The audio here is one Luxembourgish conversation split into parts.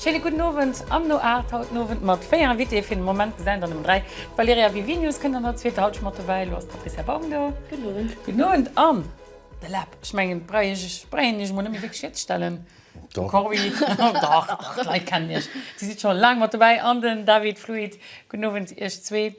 Scheene gudden Owend am No Art haut den Owend mat 4 Invitéë fir den Moment gesäit an ëm 3 d'Valerija Vivinius kënnt an der zweeter Halschent mat dobäi. Elo ass d'Patrizia Baum do. Gudden Owend. Gudden Owend an de Lab. Ech mengen brauch ech iech brauch een iech mol net méi wierklech virzeestellen. De Cory, dach dach d'Leit kennen iech, dir sidd scho laang mat dobäi, an den David Fluit. Gudden Owend iech zwee.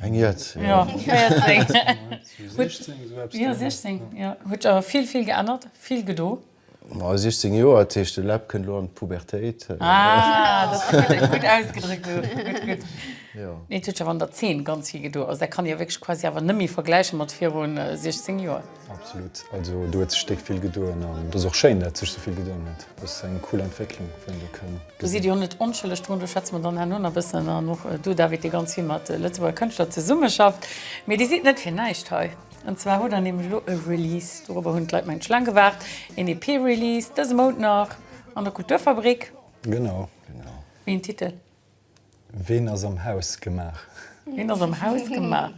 Eng Jett, jo. Jo, 16, jo. Huet jo vill, vill geännert, vill gedo. Ma 16 Joer, dat heescht de Läb kënnt elo an d'Pubertéit. Ah, dat ass gutt, gutt ausgedréckt do. Gutt, gutt. Jo. Nee, et huet jo awer an der Zeen ganz vill gedo. Also dat kann ee jo wierklech quasi awer net méi vergläiche mat virun 16 Joer. Absolut, also do huet sech déck vill gedoen an et ass och schéin, dat sech sou vill gedoen huet. Dat ass eng cool Entwécklung, wou een do kënn gesinn. Do sidd Dir jo net onschëlleg drun, do schwätze mer dann herno nach e bëssen. An och du, David, dee ganz vill mat Lëtzebuerger Kënschtler zesummeschafft. Mee Dir sidd net fir näischt hei. An zwar hutt Der nämlech elo e Release, dorobber hunn d'Leit mengen ech laang gewaart, een EP-Release dëse Mount nach an der Kulturfabrik. Genau. Wéi en Titel? Ween ass am Haus gemaach? Ween ass am Haus gemaach?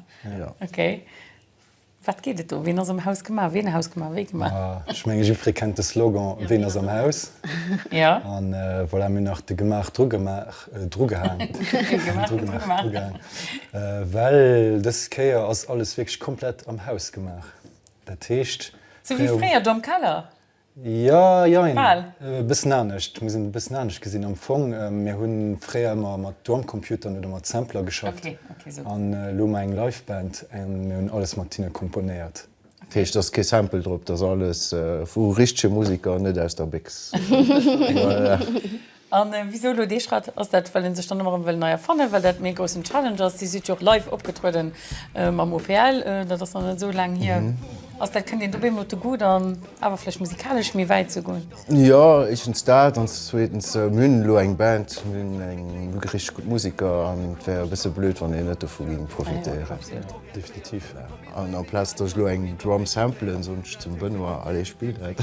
Ok. Wat geet et do? Ween ass am Haus gemaach? Ween Haus gemaach? Wéi gemaach? Ma ech menge jiddweree kennt de Slogan Ween ass am Haus? Ja. An voilà, mir hunn nach de gemaach dru gemaach, dru gehaang, dru gemaach, dru gehaang, well dës Kéier ass alles wierklech komplett am Haus gemaach. Dat heescht. Sou wéi fréier do am Keller? Jo, jein. Bal. E bëssen anescht. Et muss een e bëssen anescht gesinn. Am Fong, mir hu fréier ëmmer mat Drumcomputeren oder mat Sampler geschafft. Okay, okay, sou. An elo hu mer eng Liveband a mir hunn alles mat hinne komponéiert. Dat heescht, et ass kee Sample drop, et ass alles vu richtege Museker, net aus der Bécks. A wisou elo dee Schrett? Ass dat, well ee sech dann ëmmer erëm wëll nei erfannen, well dat méi e groussen Challenge ass? Dir sidd jo och live opgetruede mam OPL, dat ass nach net esou laang hier. Ass dat, kënnt een dobee emol op de Goût an awer vläicht musikalesch méi wäit ze goen? Jo, éischtens dat an zweetens, mir hunn elo eng Band, mir hunn eng richteg gutt Musiker an et wär e bësse blöd, wann een net dovu géing profitéieren. Definitiv. An en place dass ech lo eng Drum samplen soen ech zum Benoît, allez spill dat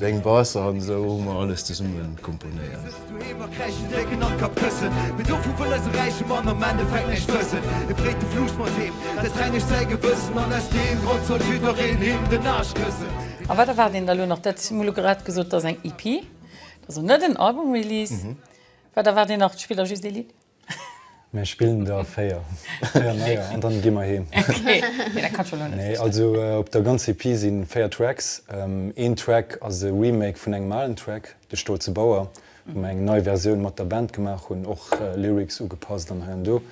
deng Bass an esou hu mer alles zesumme komponéiert. A wat erwaart een da lo nach? Dat hu mer lo grad gesot, et ass eng EP, also net en Album-Release. Wat erwaart een nach? Spillt der just ee Lidd? Mir spillen der 4. 4 neier an dann gi mer heem. Nee, also op der ganz EP sinn 4 Tracks. Een Track ass e Remake vun engem alen Track, De stolze Bauer, wou mer eng nei Versioun mat der Band gemaach hunn, och Lyrics ugepasst an hei an do.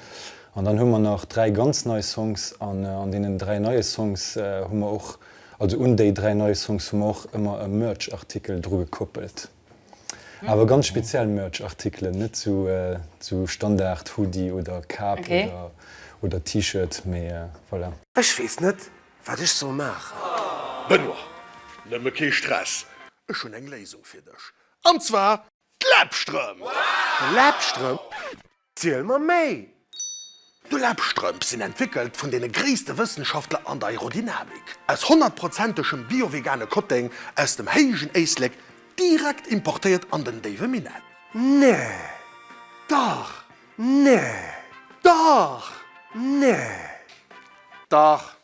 An dann hu mer nach 3 ganz nei Songs an an deenen 3 neie Songs hu mer och, also un déi 3 nei Songs hu mer och ëmmer e Merch-Artikel dru gekoppelt. Awer ganz speziell Merch Artikelen, net sou sou Standard Hoodie oder Kap oder oder T-Shirt mee voilà. Ech wees net wat ech soll maachen. Benoit, nëmme kee Stress, ech hunn eng Léisung fir dech, an zwar d'Läbstrem! D'Läbstrem? Ziel mer méi! D'Labstrëmp sinn entwéckelt vun deene gréisste Wëssenschaftler an der Aerodynamik. Aus honnertprozentegem bio-vegane Kotteng aus dem héijen Éislek, direkt importéiert an den déiwe Minetten. Nee! Dach! Nee! Dach! Nee! Dach!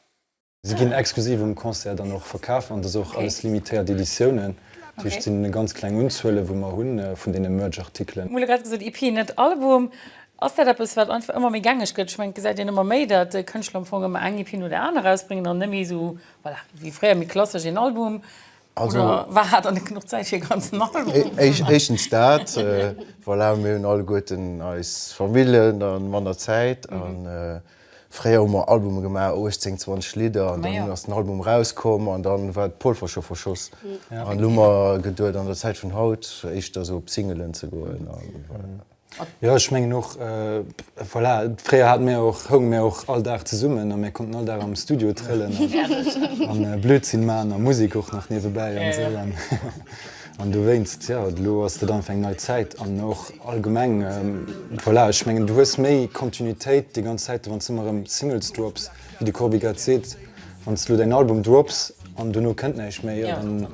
Si ginn exklusiv um Concert dann och verkaf an et ass och alles limitéiert Editiounen. Dat heescht, et sinn ganz kleng Unzuele wou mer hu vun deene Merch-Artikelen. Mol grad gesot EP, net Album. Ass dat eppes wat einfach ëmmer méi gängeg gëtt? Ech mengen et gesäit een ëmmer méi, datt Kënschtler am Fong ëmmer eng EP no der aner erausbréngen an net méi esou, voilà, wéi fréier méi klassesch een Album. Oder war hat dann net genuch Zäit fir e ganzen Album? Éischtens dat, voilà, mir hunn alleguerten eis Familljen a manner Zäit. Fréier hu mer Albume gemaach, 18, 20 Lidder, an dann ass den Album erauskomm an dann war d'Polver scho verschoss. An elo hu mer geduet an der Zäit vun haut éischter esou op Singelen ze goen. Jo ech mengen och voilà, fréier hate mir och, hounge mir och all Dag zesummen a mir konnten all Dag am Studio trëllen an Blödsinn man a Musek och nach niewebäi an esou. An dowéinst, jo, elo ass dat einfach eng nei Zäit an och allgemeng, voilà, ech mengen, du hues méi Kontinuitéit déi ganz Zäit, wann s de ëmmer erëm Singles drops, wéi de Corbi grad seet. Wann s de elo däin Album drops an dono kënnt näischt méi, jo, dann,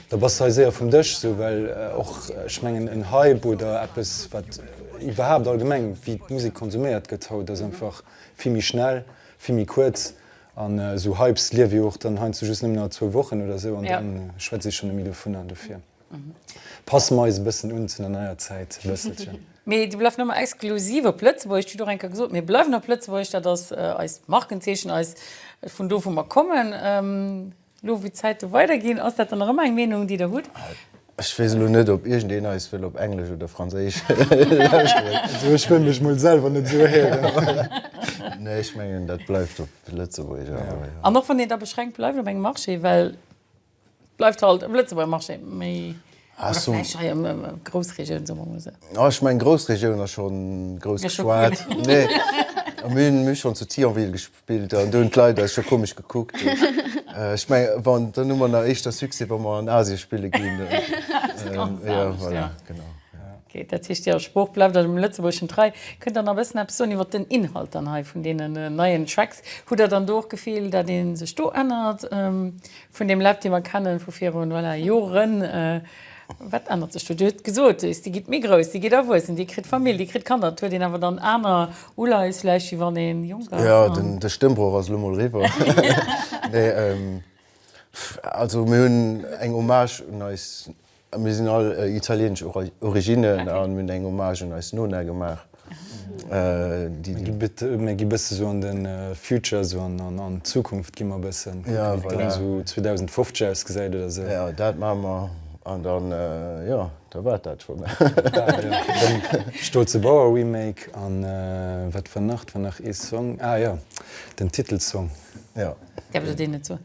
da bass de hei séier vum Dësch esou, well och, ech mengen, en Hype oder eppes, wat iwwerhaapt allgemeng, wéi d'Musek konsuméiert gëtt haut, ass einfach vill méi schnell, vill méi kuerz An esou Hypes liewe jo och dann heiansdo just nëmmen a zwou Wochen oder esou an da schwätze ech scho net méi dovunner. Dofir passe mer eis e bëssen un zu der neier Zäit e bësselchen. Mee dir bleift nëmme exklusiv op Lëtzebuerg. Et steet och eng Kéier gesot, mir bleiwen op Lëtzebuerg. Dat ass eist Markenzeechen, eis vun do wou mer kommen. Elo wou d'Zäite weider ginn, ass dat dann nach ëmmer eng Meenung, déi Der hutt? Ech weess elo net, ob iergendeen eis wëll op Englesch oder Franséisch lauschteren. Also ech wëll mech mol selwer net esou héieren. Nee, ech mengen, dat bleift op Lëtzebuergesch awer, jo. An och wann een da beschränkt bleift op engem Marché, well et bleift halt e Lëtzebuerger Marché, mee. Oder vläicht hei am Groussregioun, soe mer mol esou. Jo, ech mengen Groussregioun ass schonn grouss geschwat. Nee, mir hunn schonn zu Thionville gespillt an do hunn d'Leit eis scho komesch gekuckt. Ech mengen, wann, dann hu mer nach éischter Succès, wa mer an Asien spille ginn. Dat ass ganz anescht, jo. Jo, voilà, genau. Ok, dat heescht, Är Sprooch bleift Iech am Lëtzebuergeschen trei. Kënnt Der nach e bëssen eppes soen iwwer den Inhalt dann hei vun deenen neien Tracks? Hutt Der dann do och d'Gefill, dat ee sech do ännert Vun deem Lab, dee mer kennen vu virun, voilà, Joren, wat ännert sech do? Dir hutt gesot, Hues, déi gitt méi grouss, déi gitt erwuessen, déi kritt Famill, déi kritt Kanner. Et huet een awer dann aner Uleies vläicht, wéi wann ee jonk ass? Jo, de Stëmmbrooch ass elo mol eriwwer. Nee, also mir hunn eng Hommage un eis Mir sinn all italieenesch Originnen an hunn eng Hommage un eis Nona gemaach, déi. Mir gi bësse sou an de Future, esou an d'Zukunft gi mer bëssen, kucken, wéi et dann esou 2050 ausgesäit oder esou. Jo, dat maache mer an dann, jo, da war et dat schonn. Stolze Bauer Remake an wat war nach, et war nach ee Song, ah jo, den Titelsong. Jo. Däerf ech der deen net soen?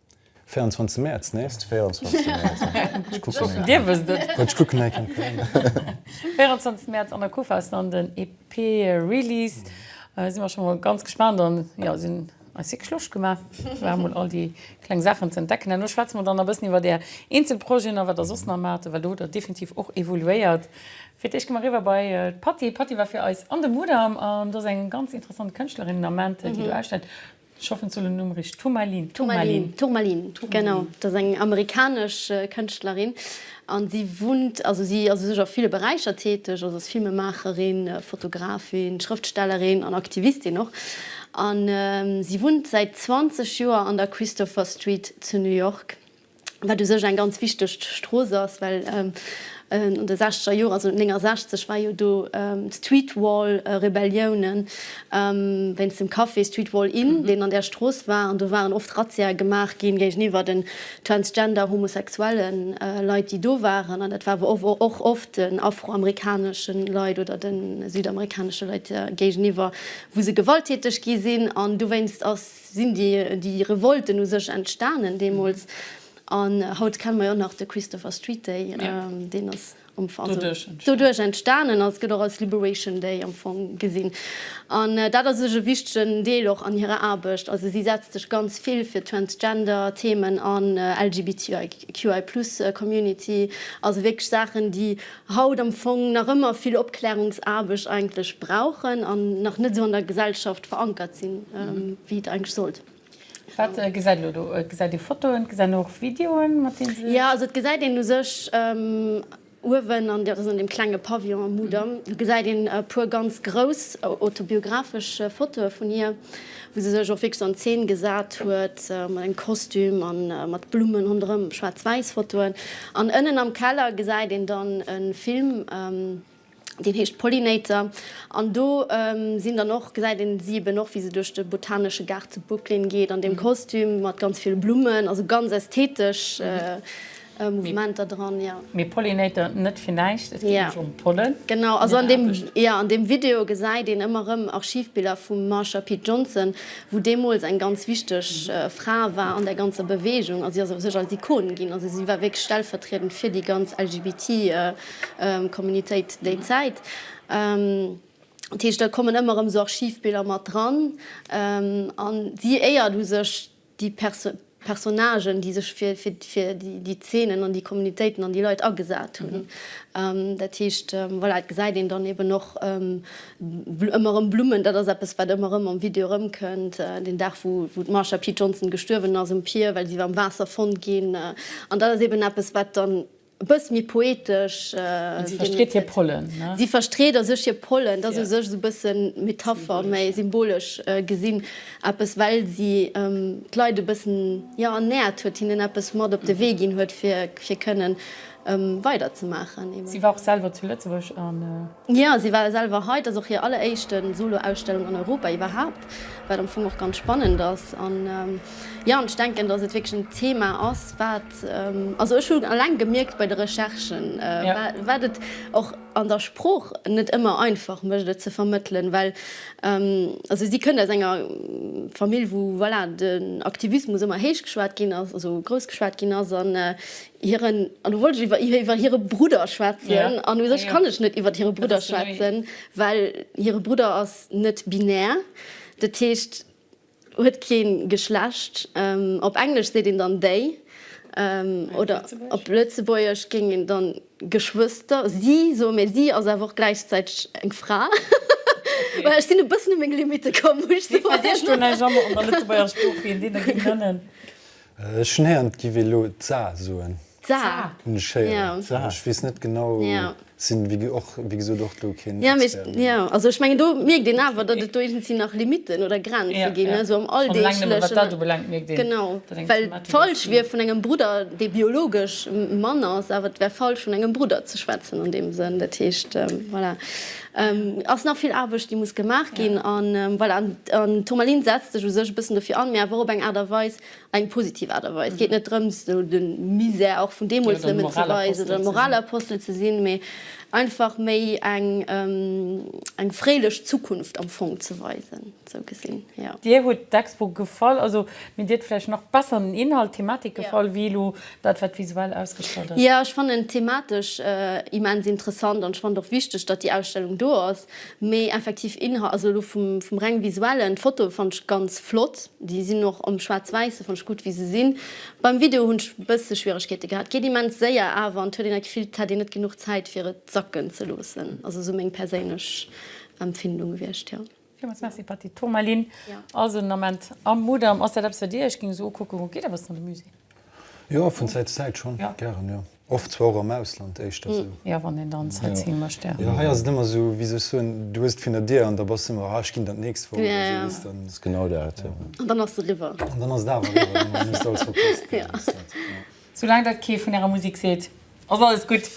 24 Mäerz nächst 24 Mäerz ech kucken eng Dir wësst et Kéier ech kucken eng Kéier 24 Mäerz an der Kuff ass dann den EP Release si mer scho mol ganz gespaant an jo sinn eis wierklech Loscht gemaach war mol all déi kleng Saachen ze entdecken an elo schwätze mer dann nach e bëssen iwwert Är eenzel Projeten a wat Der soss nach maacht well do hutt Der definitiv och evoluéiert. Fir d'éischt gi mer eriwwer bei d'Patty. D'Patty war fir eis an de Mudam an do ass eng ganz interessant Kënschtlerin den Ament déi do ausstellt. Ech hoffen, ech soen den Numm richteg, Turmalin. Turmalin, Turmalin, genau. Dat ass eng amerikanesch Kënschtlerin an si wunnt, also si ass u sech a ville Beräicher täteg, also ass Filmemaacherin, Fotografin, Schrëftstellerin an Aktivistin och. An si wunnt säit 20 Joer an der Christopher Street zu New York. wat u sech eng ganz wichteg Strooss ass, well an de sechzeger Joren, also 69 war jo do d'Streetwall-Rebellioune wéinst dem Café Streetwall Inn, deen an där Strooss war, an do waren oft Razziae gemaach gi géigeniwwer den transgender, homosexuelle Leit, déi do waren, an dat war awer och oft den afroamerikanesche Leit oder de südamerikanesche Leit géigeniwwer, wou se gewalttäteg gi sinn. An dowéinst ass. Sinn déi Revolten u sech entstanen deemools? An haut kenne mer jo och nach de Christopher Street Day, deen ass am Fong doduerch entstanen a gëtt och als Liberation Day am Fong gesinn. An dat ass sech e wichtegen Deel och an hirer Aarbecht. Also si setzt sech ganz vill fir d'Transgender-Themen an, LGBTIQI Plus Community, also wierklech Saachen, déi haut am Fong nach ëmmer vill Opklärungsaarbecht eigentlech brauchen an nach net esou an der Gesellschaft verankert sinn, wéi et eigentlech sollt. Wat gesäit elo do? Et gesäit ee Fotoen, et gesäit een och Videoen, mat deene se. Jo, also et gesäit een u sech uewen, an dat ass an deem klenge Pavillon am Mudam, do gesäit een e puer ganz grouss autobiographesch Fotoe vun hir, wou se sech och wierklech an Zeen gesat huet mat engem Kostüm a mat Blummen ronderëm, schwaarz-wäiss Fotoen. An ënnen am Keller gesäit een dann e Film, deen heescht Pollinator. An do sinn dann och, gesäit een si eben och, wéi se duerch de botanesche Gaart zu Brooklyn geet an deem Kostüm mat ganz ville Blummen, also ganz ästhetesch. Mouvementer dran, jo. Mee Pollinator, net fir näischt, et geet nämlech ëm Pollen. Genau, also an deem, jo, an deem Video gesäit een ëmmer erëm Archivbiller vum Marsha P. Johnson, wou deemools eng ganz wichteg Fra war an där ganzer Beweegung. A si ass u sech als Ikon ginn, also si war wierklech stellvertriedend fir déi ganz LGBT Communitéit déi Zäit. Dat heescht, da kommen ëmmer erëm esou Archivbiller mat dran. An si éiert u sech déi Personnagen, déi sech fir déi Zeenen an déi Communitéiten an déi Leit agesat hunn. Dat heescht, voilà, et gesäit een dann eben och ëmmer erëm Blummen. Dat ass eppes, wat ëmmer erëm am Video erëmkënnt, den Dag, wou d'Marsha P. Johnson gestuerwen ass, um Pier, well si war am Waasser fonnt ginn. An dat ass eben eppes, wat dann E bëss méi poetesch. Si verstreet hir Pollen. Si verstreet a sech hir Pollen. Dat ass u sech esou e bëssen Metapher, méi symbolesch gesinn, eppes, well si d'Leit e bëssen, jo, ernäert huet, hinnen eppes mat op de Wee ginn huet, fir kënnen weiderzemaachen. Si war och selwer zu Lëtzebuerg a. Jo, si war selwer hei. Et ass och hir alleréischte Solo-Ausstellung an Europa iwwerhaapt, wat am Fong och ganz spannend ass. An jo, ech denken, dass et wierklech en Thema ass, wat, also ech hu eleng gemierkt bei de Recherchen, wat et och an der Sprooch net ëmmer einfach mécht, et ze vermëttelen. Well also si kënnt aus enger Famill, wou voilà den Aktivismus ëmmer héich geschwat ginn ass, also grouss geschwat ginn ass. An Hiren, an elo wollt ech iwwer, iwwer hire Brudder schwätzen, an u sech kann ech net iwwer hire Brudder schwätzen, well hire Brudder ass net binär, dat heescht huet kee Geschlecht. Op Englesch seet een dann they, oder op Lëtzebuergesch géing een dann Geschwëster, si soen, mä si ass awer och gläichzäiteg eng Fra. Well ech sinn e bëssen u meng Limitte komm, muss ech soen. Mee verdeeg du näischt, an der Lëtzebuerger Sprooch, wéi een deene géing nënnen? Ech hun héiern et giff ee lo d'Sa soen. D'Sa hun ech héieren. D'Sa. Ech wees net genau, sin wéi och wéi gesoot och do keen Expert. Jo, jo, also ech mengen do mierkt een awer dat et do iergendwéi nach Limiten oder Grenze gin, ne, sou am Alldeglechen. Schon eleng nëmme wat dat ubelangt mierkt een. Genau, well falsch wier vun engem Brudder, dee biologesch Mann ass, awer et wär falsch vun engem Brudder ze schwätzen an deem Sënn, dat heescht, voilà. Et ass nach vill Aarbecht, déi muss gemaach ginn. An voilà, den Tourmaline setzt sech u sech e bëssen dofir an, mee awer och op eng Aart a Weis, eng positiv Aart a Weis. Et geet net drëms, esou de Misär och vun deemools nëmmen ze weisen oder Moralapostel ze sinn, mee einfach méi eng fréilech Zukunft am Fong ze weisen. Sou gesinn, jo. Dir hutt d'Expo gefall, also mir dir vläicht nach besser den Inhalt, d'Thematik gefall wéi elo dat, wat visuell ausgestallt ass? Jo, ech fannen et thematesch immens interessant an ech fannen et och wichteg, datt déi Ausstellung do ass. Mee effektiv Inhalt, also elo vum reng visuellen, d'Fotoe fannen ech ganz flott, déi sinn och am Schwaarz-Wäisse fannen ech gutt wéi se sinn. Beim Video hunn ech e bësse Schwieregkeete gehat, et geet immens séier awer an et huet een dat Gefill, et hätt een net genuch Zäit fir et sacken ze loossen. Also sou meng perséinlech Empfindung gewiescht, jo. Villmools Merci Patty. D'Tourmaline ass en Ament am Mudam. Ass dat eppes fir Dir? Ech ging esou ukucken, Geet der eppes an de Musée? Jo, vun Zäit zu Zäit schonn. Gären, jo. Oft zwar och am Ausland éischter esou. Jo, wann een dann Sightseeing mécht, jo. Jo, hei ass et ëmmer esou, wéi soll ech soen, du hues et vun der Dier an da bass du ëmmer, ah, ech ginn dann d'nächst Woch oder esou, weess de. Ass genau dat, jo. An dann ass se eriwwer. An dann ass et awer eriwwer, dann muss et alles verpasst ginn. Soulaang dat kee vun Ärer Musek seet, ass alles gutt.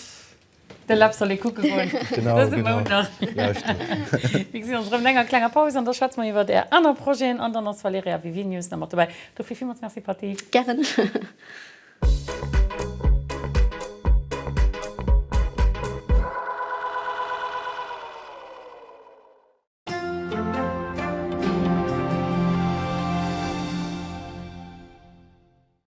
De Lab soll ee kucke goen dëse Mount nach. Mir gesi ons erëm no enger klenger Paus an da schwätze mer iwwert Är aner Projeten an dann ass d'Valerija Vivinius nach mat dobäi. Dofir villmools Merci Patty. Gären.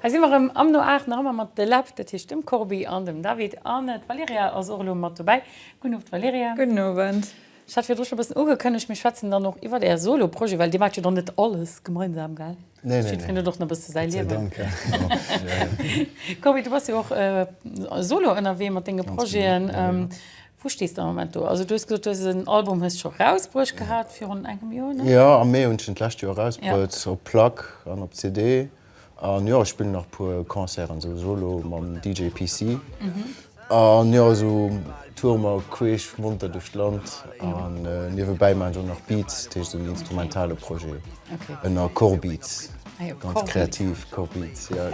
Hei si mer erëm am No Aach, nach ëmmer mat de Läb, dat heescht dem Corbie an dem David. An d'Valerija ass och elo mat dobäi. Gudden Owend, Valerija. Gudden Owend. Ech hat virdru scho e bëssen ugekënnegt, mir schwätzen dann och iwwert Är Solo-Projeten, well Dir maacht jo dann net alles gemeinsam, well jiddwereen huet och nach e bësse säi Liewen. Corbie, du bass jo och solo ënnerwee mat denge Projeten. Wou stees de am Moment do? Also du hues gesot, du hues en Album hues scho rausbruecht gehat, virun engem Joer, ne? Jo, am Mee hunn ech en d'lescht Joer erausbruet, op Plack an op CD. An jo ech spillen nach puer Concerten sou solo mam DJ PC an jo sou toure mer queesch monter duerch d'Land an niewebäi maachen ech och nach Beats, dat heescht sou en instrumentale Projet ënner Corbeats, ganz kreativ Corbeats ja.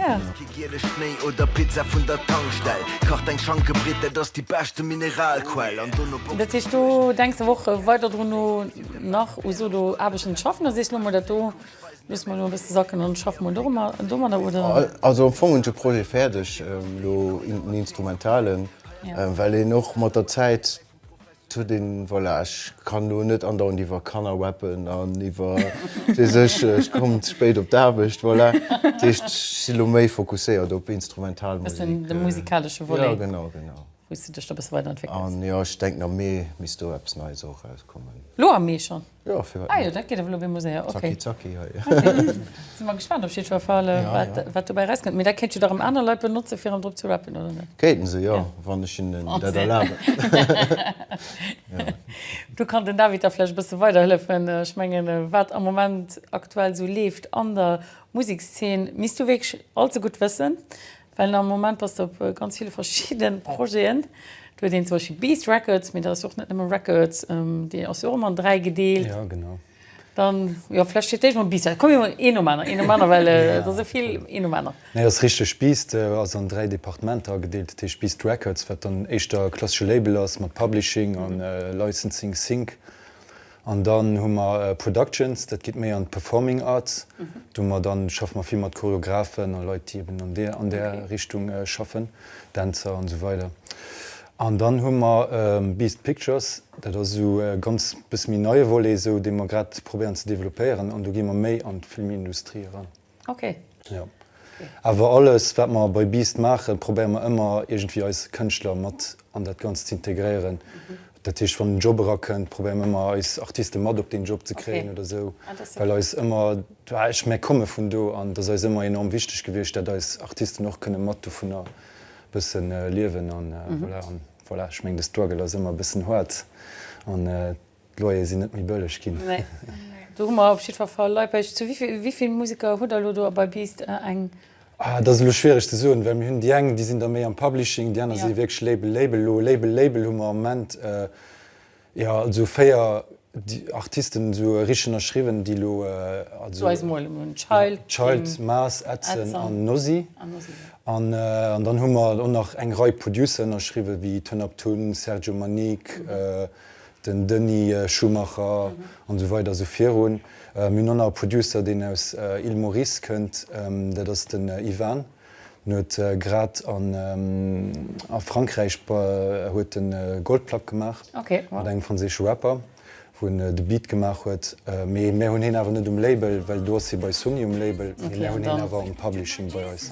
Dat heescht do denks de och weider drun no nach u solo Aarbechten ze schaffen oder sees lo mol dat do Loosse mer elo e bësse sacken an schaffe mol domadder, oder? Also am Fong hunn ech e Projet fäerdeg, elo en instrumentalen, well een och mat der Zäit huet een, voilà, ech kann elo net andauernd iwwer Kanner wappen an iwwer, wat weess ech, ech komm ze spéit op d'Aarbecht, voilà. Dat heescht, ech sinn elo méi fokusséiert op instrumental Musek. Ech mengen, de musikalesche Volet. Jo, genau, genau. Wou s du dech da e bësse weiderentwéckelt. An jo, ech denken, am Mee misst do eppes Neies och erauskommen. Elo am Mee schonn? Ah jo, dat geet ewell op eemol séier, ok. Zacki zacki hei. Sinn mer gespaant op jiddwer Fall, wat dobäi erauskënnt. Mee dat kéint jo da rëm aner Leit benotzen, fir erëm drop ze rappen, oder net? Kéinte se, jo, wann ech hinnen dat erlaben. Do kann den David da vläicht e bësse weiderhëllefen. Ech mengen, wat am Moment aktuell esou leeft an der Musekszeen, misst du wierklech allzegutt wëssen. Well am Moment bass de op ganz ville verschidde Projeten. Do huet een zum Beispill Beast Records, mee dat ass jo och net nëmme Records, déi ass jo och ëmmer an dräi gedeelt. Jo, genau. Dann, jo, vläch fir d'éischt mol Beast Records. Komm mir huelen een nom aneren, een nom aneren, well et ass esou vill. Een nom aneren. Nee, ass richteg. Beast ass an dräi Departementer agedeelt. Dat heescht Beast Records, wat dann éischter e klassesche Label ass mat Publishing a Licensing, Sync. An dann hu mer Productions, dat geet méi an d'Performing Arts. Do mer dann, schaffe mer vill mat Choreographen a Leit, déi eben an där, an där Richtung schaffen, Dänzer an esou weider. An dann hu mer Beast Pictures, dat ass esou e ganz bësse méi neie Volet esou, dee mer grad probéieren ze developpéieren. An do gi mer méi an d'Filmindustrie eran. Ok. Jo. Awer alles, wat mer bei Beast maachen, probéiere mer ëmmer iergendwéi eis Kënschtler mat an dat Ganzt ze integréieren. Dat heescht, wann en Job erakënnt, probéiere mer ëmmer eis Artiste mat op deen Job ze kréien oder esou, well eis ëmmer, ech mä komme vun do an et ass eis ëmmer enorm wichteg gewiescht, dat eis Artisten och kënne mat dovunner e bësse liewen an voilà. An voilà, ech meng, de Struggle ass ëmmer e bëssen haart an. D'Loyere sinn net méi bëlleg ginn. Nee, do hu mer op jiddwer Fall Laipesch. Zu wéi vill Museker hutt der elo do a bei Beast eng? Ah, dat ass elo schwiereg ze soen, well mir hunn déi eng, déi sinn da méi am Publishing, déi aner si wierklech Label, Label. Elo Label, Label hu mer am Moment, jo, also véier Artisten esou richteg ënnerschriwwen, déi elo, also. Zu eis mol emol. Child. Child, Maas, Edson an Nosy. An Nosy, jo. An dann hu mer elo nach eng Rei Producer ënnerschriwwen, wéi Ton Up Tun, Sergio Manique. den Denis Schumacher an esou weider esou virun. Mir hunn och nach e Producer, deen aus Île Maurice kënnt, dat ass den Ivan. En huet grad a Frankräich huet en e Goldplack gemaach mat engem franséische Rapper, wou en de Beat gemaach huet. Mee mär hunn hien awer net um Label, well do ass hie bei Sony um Label. Mee mär hunn hien awer am Publishing bei eis.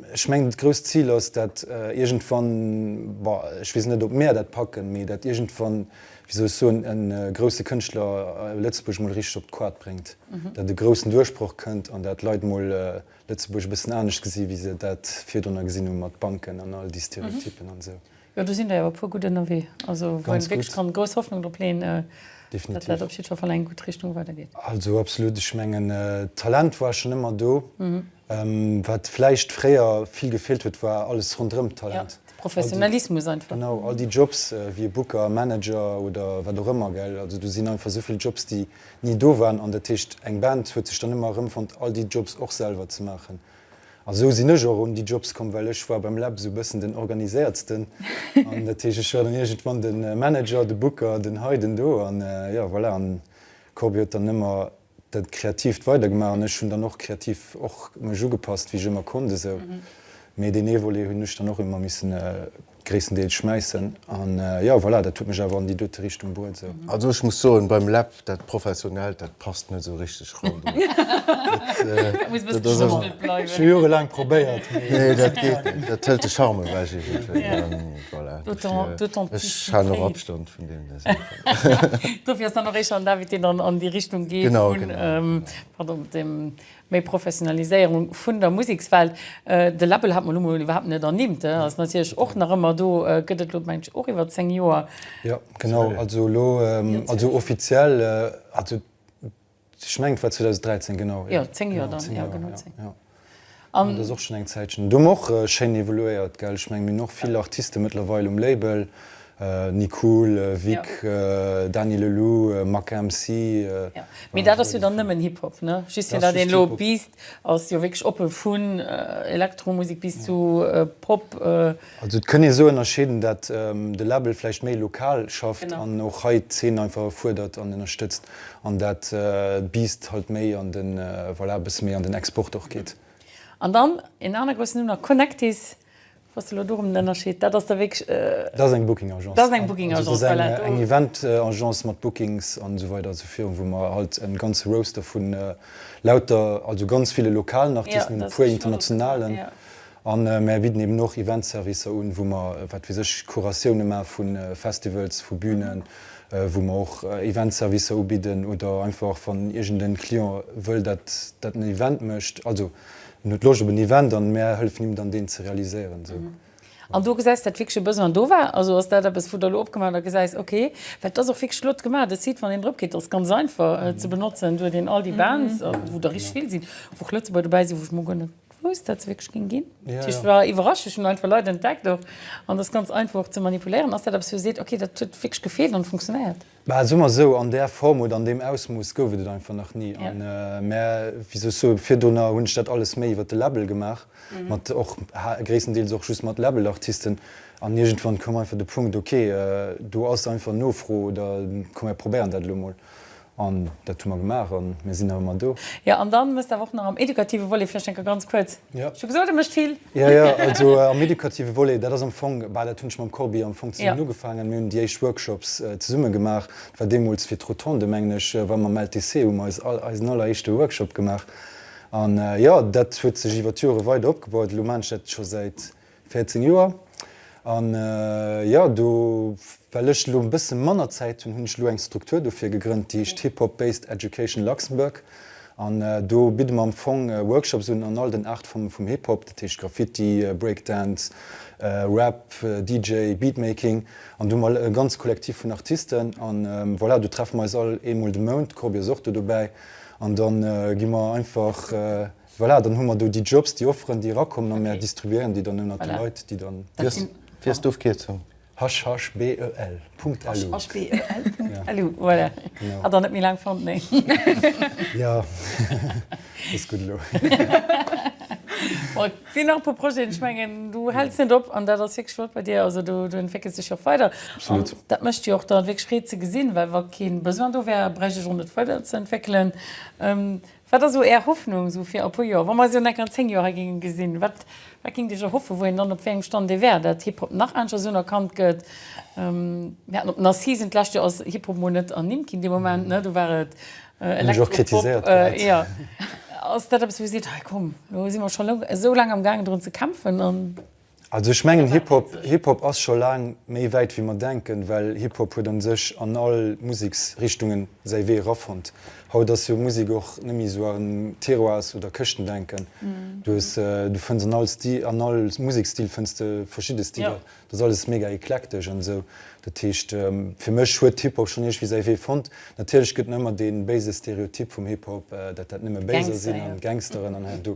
Ech mengen, dat grousst Zil ass dat, iergendwann, ech weess net, ob mär dat packen, mee dat iergendwann, wéi soll ech soen, e grousse Kënschtler Lëtzebuerg mol richteg op d'Koart bréngt, dat e groussen Duerchbroch kënnt an dat Leit mol Lëtzebuerg e bëssen anescht gesi wéi se dat virdrunner gesinn hu mat Banken an all déi Stereotypen an esou. Jo, do sinn der jo e puer gutt ënnerwee, also wou een wierklech kann grouss Hoffnung drop leeën, datt dat op jiddwer Fall an eng gutt Richtung weidergeet. Also absolut, ech mengen d'Talent war schonn ëmmer do. Wat vläicht fréier vill gefeelt huet, war alles ronderëm d'Talent. De Professionalismus einfach. Genau, all déi Jobs wéi e Booker, Manager oder wat och ëmmer, gell. Also do sinn einfach esou vill Jobs, déi ni do waren an dat heescht eng Band huet sech dann ëmmer erëmfonnt all déi Jobs och selwer ze maachen, A sou sinn ech och un déi Jobs komm, well ech war beim Lab sou e bëssen den Organiséiertsten. An dat heescht, ech war dann iergendwann de Manager, de Booker, den hei, den do. An jo, voilà, an d'Corbie huet dann ëmmer dat Kreatiivt weidergemaach an ech hunn dann och kreativ och mech ugepasst, wéi ech ëmmer konnt esou. Mee deen ee Volet hunn ech dann och ëmmer missen. Gréisstendeels schmäissen an jo voilà, dat huet mech awer an déi dote Richtung bruet sou. Also ech muss soen, beim Läb, dat Professionellt, dat passt net esou richteg ran do. Dat muss e bësse geschmuggelt bleiwen. Scho jorelaang probéiert, mee. Nee, dat geet net. Dat hëlt de Charme ewech iergendwéi an voilà. Dofir, ech halen och Abstand vun deene Saachen. Dofir ass dann och éischter den David, deen dann an déi Richtung geet vun, pardon, dem Méi Professionaliséierung vun der Musekswelt, de Label hat mer elo mol iwwerhaapt net ernimmt, ass natierlech och nach ëmmer do, gëtt et elo mengen ech och iwwer 10 Joer. Jo, genau, also elo, also offiziell, also ech mengen et war 2013, genau. Jo, 10 Joer dann, jo genau 10. Jo, an et ass och schonn eng Zäitchen. Do hu mer och schéin evoluéiert, gell, ech menge mir hunn och vill Artiste mëttlerweil um Label. Nicool, Vic, Dany Le Lou, Mack MC, Jo, mee dat ass jo dann nëmmen Hip Hop, ne? Just fir dat een elo biisst, ass jo wierklech oppe vun Elektromusek bis zu Pop. Also et kënn ee sou ënnerscheeden, dat de Label vläicht méi lokal schafft an och hei d'Zeen einfach fuerdert an ënnerstëtzt an dat d'Biisst halt méi an den, voilà, e bësse méi an den Export och geet. An dann een aner groussen Numm nach, Connectis, Bass de elo do rëm den Ënnerscheed? Dat ass da wierklech e. Dat ass eng Booking Agence. Dat ass eng Booking Agence, voilà. Dat ass eng Event Agence mat Bookings an esou weider zu Virun, wou mer halt en ganze Roster vun lauter, also ganz ville lokalen Artisten hunn, e puer internationalen. An mer bidden eben och Event Servicer un, wou mer, wat weess ech, Curatioune maache vu Festivals, vu Bünen, wou mer och Event Servicer ubidden oder einfach wann iergend en Client wëll dat en Event mécht, also En huet Loscht op en Event an mär hëllefen him dann deen ze realiséieren esou. An do gesäis dat wierklech e Besoin do war? Also ass dat eppes wou der elo opgemaach hutt a gesäis okay, well et ass och wierklech flott gemaach de Site wann een drop geet, ass ganz einfach ze benotzen, et huet een all déi Bands wou der richteg vill sinn, wou och Lëtzebuerger dobäi sinn, wou ech mol guer net wousst dat se wierklech géing ginn. Dat heescht et war iwwerraschend, ech hunn einfach Leit entdeckt och an et ass ganz einfach och ze manipuléieren. Ass dat eppes wou Dir seet okay dat huet wierklech gefeelt an et funktionéiert? Bah, soe mer esou, an där Form oder an deem Ausmooss gouf et et einfach nach ni. An mä, wéi soll ech soen, virdrunner hunn ech dat alles méi iwwer de Label gemaach, mat och gréisstendeels och just mat Labelartisten. An iergendwann koum einfach de Punkt, ok, do ass einfach Nofro oder komm mir probéieren dat elo emol. An dat hu mer gemaach a mir sinn nach ëmmer do. Jo, an da musst de awer och nach am edukative Volet vläicht eng Kéier ganz kuerz Jo. Ech hu gesot, e mécht vill. Jo, jo, also am edukative Volet, dat ass am Fong, bah, dat hunn ech mam Corbi am Fong zesummen ugefaangen. Mir hunn déi éischt Workshops zesumme gemaach. Dat war deemools fir d'Rotonde, mengen ech, wa mam LTC hu mer eis all, eisen alleréischte Workshop gemaach. An jo, dat huet sech iwwer d'Jore weider opgebaut. Elo maan ech dat scho säit 14 Joer. An jo, do well ech elo e bësse manner Zäit hunn, hunn ech elo eng Struktur dofir gegrënnt, déi heescht Hip Hop Based Education Luxembourg. An do bidde mer am Fong Workshops un an all den Aart vum vum Hip Hop, dat heescht Graffiti, Breakdance, Rap, DJ, Beatmaking. An do hu mer e ganze Kollektiv vun Artisten. An voilà, do treffe mer eis all eemol de Mount, d'Corbi ass och do dobäi. An da gi mer einfach Voilà, dann hu mer do déi Jobs, déi Offeren, déi erakommen a mer distribuéieren déi dann ënnert de Leit, déi dann. Wéi ass d'Ofkierzung? Hashashbel. Lu. Hashashbel. Lu, voilà. Hat der net méi laang fonnt, nee. Jo, ass gutt elo. Et sinn nach e puer Projeten. Ech mengen, du häls net op an dat ass wierklech flott bei dir. Also du entwéckels dech och weider. Absolut. An dat mécht jo och dann wierklech Freed ze gesinn, well wa kee Besoin do wär, bräicht ech och net weiderzeentwéckelen. Wat ass sou Är Hoffnung sou fir a puer Joer, wa mer eis jo net an 10 Joer hei géinge gesinn? Wat géingt Iech erhoffen, wou een dann op wéi engem Stand ee wär? Datt Hip-Hop nach aneschters esou unerkannt gëtt? Mir haten op den Assisen d'lescht Joer ass Hip-Hop mol net ernimmt ginn, dee Moment, ne? Do war et Elektro-Pop. Jo. Ass dat eppes wou Dir seet, hei komm, lo si mer scho esou laang am gaangen drun ze kämpfen an. Also ech mengen Hip Hop, Hip Hop ass scho laang méi wäit wéi mer denken, well Hip Hop huet an sech an all Museksrichtungen säi Wee erafonnt. Haut ass jo Musek och nemmi sou en Tiroirs oder Këschtendenken. Du hues, du fënns an all Stil, an all Musekstil fënns de verschidde Stiler. Dat ass alles mega eklektesch an esou. Dat heescht, fir mech huet Hip-Hop schonn iergwéi säi Wee fonnt. Natierlech gëtt en ëmmer dee béise Stereotyp vum Hip-Hop, dat dat nëmme Béiser sinn an Gangsteren an hei an do.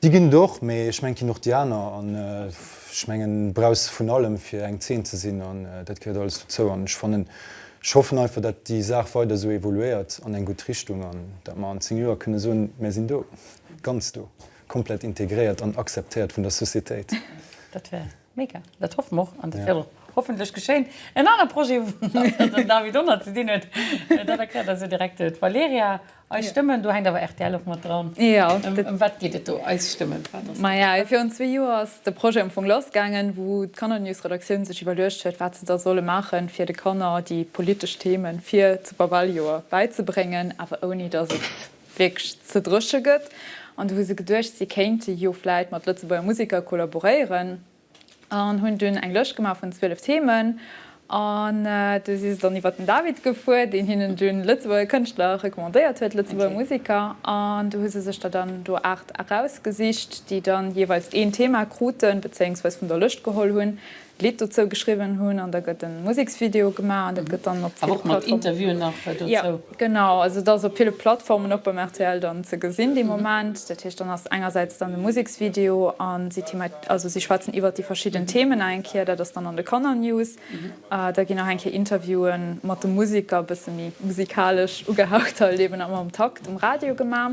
Déi ginn et och, mee ech mengen et ginn och déi aner. An ech mengen, du brauchs vun allem fir eng Zeen ze sinn an dat gehéiert alles dozou. An ech fannen, ech hoffen einfach, dat déi Saach weider esou evoluéiert an eng gutt Richtung an dat mer an 10 Joer kënne soen, mär sinn do, ganz do, komplett integréiert an akzeptéiert vun der Societéit. Dat wär. Mega, dat hoffe mer och an dat wäert och hoffentlech geschéien. En anere Projet, wou nach den David Donner ze dinn huet, dat erkläert eis jo direkt d'Valerija, Eis Stëmmen, do hänkt awer rtl och mat dran. Ëm wat geet et do, Eis Stëmmen? Maja, virun zwee Joer ass de Projet am Fong lassgaangen, wou d'Kannernews-Redaktioun sech iwwerluecht huet, wat se da solle maachen, fir de Kanner déi politesch Themen fir zu Babeljoer bäizebréngen, awer ouni datt et wierklech ze dréche gëtt. An du hu se geduecht, si kéinte jo vläit mat Lëtzebuerger Museker kollaboréieren an hunn dunn eng Lëscht gemaach vun 12 Themen. An du si se dann iwwer den David gefuer, deen hinnen dunn Lëtzebuerger Kënschtler recommandéiert huet, Lëtzebuerger Museker. An du hu se sech der dann do 8 erausgesicht, déi dann jeeweils een Thema kruten, bezéiungsweis vun der Lëscht geholl hunn. Lidd dozou geschriwwen hunn an da gëtt en Museksvideo gemaach an dat gëtt dann op ville Plattformen. Awer och mat Interviewen nach dozou? Jo, genau. Also et ass op ville Plattformen och beim rtl dann ze gesinn dee Moment. Dat heescht dann ass engersäits dann de Museksvideo an si thema, also si schwätzen iwwert déi verschidden Themen nach eng Kéier. Dat ass dann an de Kannernews. Da ginn nach eng Kéier Interviewe mat de Museker, bësse méi musikalesch ugehaucht, halt eben am Takt um Radio gemaach.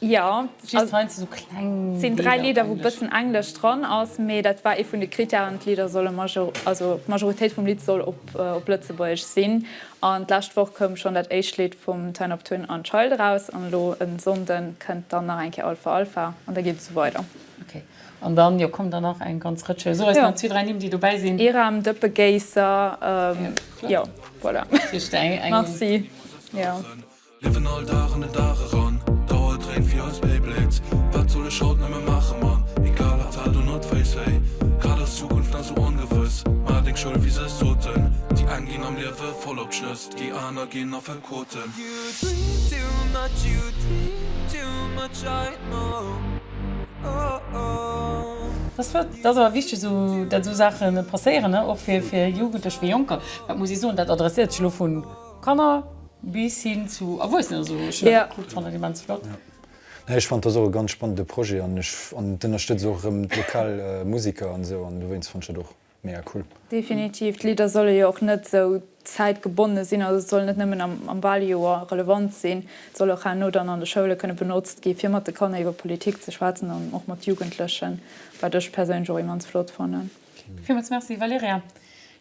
Jo, et sinn dräi Lidder, wou e bëssen Englesch dran ass, mee dat war ee vun de Krittären, d'Lidder solle, also d'Majoritéit vum Lidd soll op Lëtzebuergesch sinn. An d'lescht Woch koum schonn dat éischt Lidd vum Ten Op Twin an Child eraus an elo e Sonnde kënnt dann nach eng Kéier All For Alpha an da geet et esou weider. Ok, an dann, jo, kommen der nach eng ganz Rëtsch. Soe eis nach zwee, dräi Nimm, déi dobäi sinn. Iram, Dëppe Géisser, jo, voilà, merci. Liewen all Dag an den Dag eran, d'Auer dréint wéi eis Beyblades, wat soll ech haut nëmme maache man, egal wat war do not face hey, grad ass d'Zukunft nach sou ongewëss, maach deng Schoul wéi se es soten, déi eng ginn am Liewe voll op Schnëss, déi aner ginn Affekoten. You dream too much, you dream too much, I know, oh oh. Dat ass flott, dat ass awer wichteg esou, dat esou Saache passéieren, och fir Jugendlech, fir Jonker, dat muss ee soen, dat adresséiert sech elo vun. Kanner bis hin zu Erwuessenen. Also ech hunn dat gekuckt, fannen immens flott. Nee ech fand dass och e ganz spannende Projet an ech an d'ënnerstëtz och erëm d'lokal Musiker an esou an dowéinst fand ech dat och mega cool. Definitiv, d'Lidder solle jo och net sou zäitgebonne sinn, also et soll net nëmmen am Waljoer relevant sinn, et soll och herno dann an de Schoule kënne benotzt gi fir mat de Kanner iwwer Politik ze schwätzen an och mat Jugendlechen, wat ech perséinlech och immens flott fannen. Villmools Merci Valerija.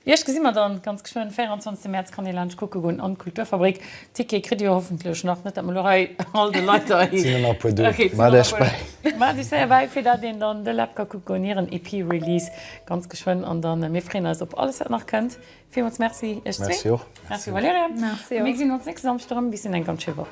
Iech gesi mer dann ganz geschwënn. 24 März kann ee laanscht kucke goen an d'Kulturfabrik. Tickete kritt dir hoffentlech nach, net dat mer elo hei all de Leit der et sinn der nach puer do. Ok, sinn der nach puer do. Maacht iech séier bäi fir dat een dann de Läb ka kucke goen, hiren EP Release ganz geschwënn an dann mir freeën eis op alles wat nach kënnt. Villmools Merci iech zwee. Merci och. Merci Valerija. Merci och. Mir gesinn ons nächste Samschde erëm. Bis deen eng ganz schéi Woch.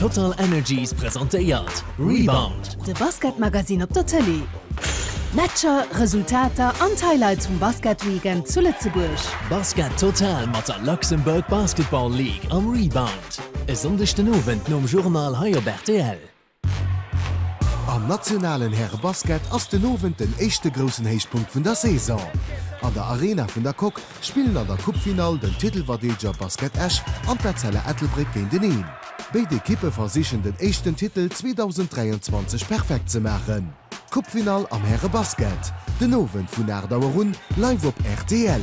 TotalEnergies presentéiert Rebound. De Basketmagazin op der Tëlee. Matcher, Resultater an d'Highlights vum Basketweekend zu Lëtzebuerg. Basket Total mat der Luxembourg Basketball League am Rebound. E Sonndeg den Owend nom Journal hei op rtl. Am nationalen Härebasket ass den Owend den éischte groussen Héichpunkt vun der Saison. An der Arena vun der Coque spillen an der Coupefinall den Titelverdeedeger Basket Esch an d'Etzella Ettelbréck géinteneen. Béid Ekippe versichen den éischten Titel 2023 perfekt ze maachen. Coupefinall am Härebasket den Owend vun 8 Auer un live op rtl.